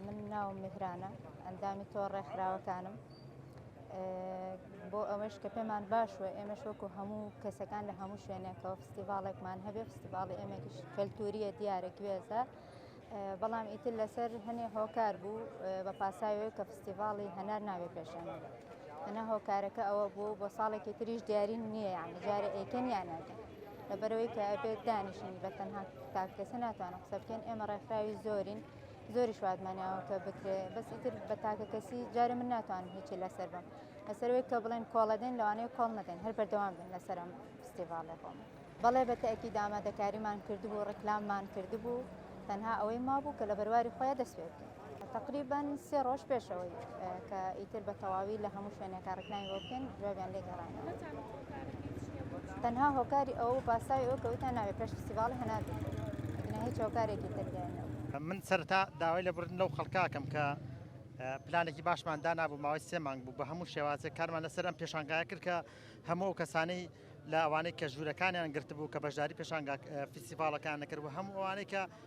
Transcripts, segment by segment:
من ناوم میهرانە ئەندامی تۆ ڕێکخراوەکانم بۆ ئەوەش کە پێمان باشوە ئێمەش وەکو هەموو کەسەکان لە هەموو شوێنێکەوە فستیڤالێکمان هەبێ فستیڤاڵی ئێمەکیش کەلتوریە دیارە گوێزە بەڵام ئیتر لەسەر هەنێ هۆکار بوو بە پاساوێ کە فستیڤاڵی هەنار ناوێ پێشێنە ئەنا هۆکارەکە ئەوە بوو بۆ ساڵێکی تریش دیارین نییە یان جارە ئێکن یانەکە لەبەرەوەی کە ئەبێت دانیشین بە تەنها تاک کەسە ناتوانم قسە بکەین ئێمە ڕێکخراوی زۆرین زۆری شوادمانیاوە کە بکرێ بەس ئیتر بە تاکە کەسی جارە من ناتوانم هیچی لەسەر بم لەسەروەی کە بڵێن کۆڵەدەین لەوانەیە کۆڵ نەدەین هەر بەردەوام بن لەسەرم فستیڤالێ خۆم بەڵێ بە تاکی دامادەکاریمان کردبوو ڕکلاممان کردبوو تەنها ئەوەی مابوو کە لە بەرواری خۆیان دەسوێت بکەین تەقریبەن سێ ڕۆژ پێشەوەی کە ئیتر بە تەواوی لە هەموو شوێنێکە ڕکناوی بۆ بکەین جوابیان لێ گەڕانەوە تەنها هۆکاری ئەو پاساوی ئەو کەوتان ناوێ پێش فستیڤاڵ هەنار بکرێت هیچ هۆکارێکی تردێنەوە من سەرتا داوای لە بردن لەو خەڵکاکەم کە پلانێکی باشمان دانابوو ماوەی سێ مانگ بوو بە هەموو شێوازێک کارمان لەسەر ئەم پێشانگای کرد کە هەموو ئەو کەسانەی لە ئەوانەی کە ژوورەکانیان گرتبوو کە بەشداری پێشانگا فیسیڤالەکان نەکرد و هەموو ئەوانەی کە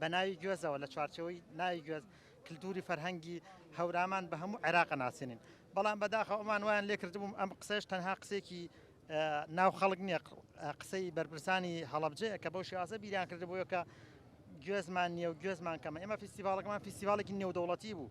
بە ناوی گوێزەوە لە چوارچێوەی ناوی گوێز کلتوری فەرهەنگی هەورامان بە هەموو عێراق ناسێنین بەڵام بەداخە ئەومان وایان لێ کردبووم ئەم قسەش تەنها قسێکی ناو خەڵک نییە قسەی بەرپرسانی هەڵبجەیە کە بەو شێوازە بیریان کردبووە کە گوێزمان نیە و گوێزمان کەمە ئێمە فیستیڤالەکەمان فیستیڤالێکی نێودەوڵەتی بوو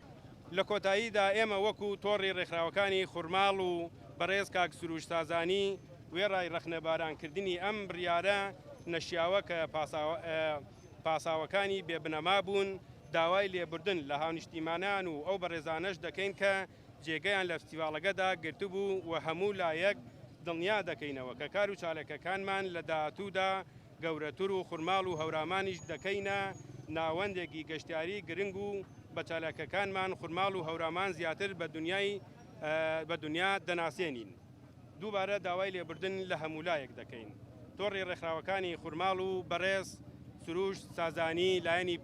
لە کۆتاییدا ئێمە وەکو تۆڕی ڕێکخراوەکانی خورماڵ و بەڕێز کاک سروش سازانی وێڕای ڕەخنەباران کردنی ئەم بڕیارە نەشیاوە کە پاساوەکانی بێ بنەما بوون داوای لێبوردن لە هاونیشتیمانان و ئەو بەڕێزانەش دەکەین کە جێگەیان لە فستیڤاڵەگەدا گرتبوو و هەموو لایەک دڵنیا دەکەینەوە کە کار و چاالکەکانمان لە داهاتوودا گەورەتر و خورماڵ و هەورامانیش دەکەینە ناوەندێکی گەشتیاری گرنگ و بە چالاکیەکانمان خورماڵ و هەورامان زیاتر بە دنیای بە دنیا دەناسێنین. دووبارە داوای لێبوردن لە هەموولایەک دەکەین تۆڕی ڕێکخراوەکانی خورماڵ و بەڕێز سروشت سازانی لایەنی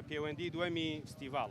پێوەندی دووەمی فستیڤاڵ.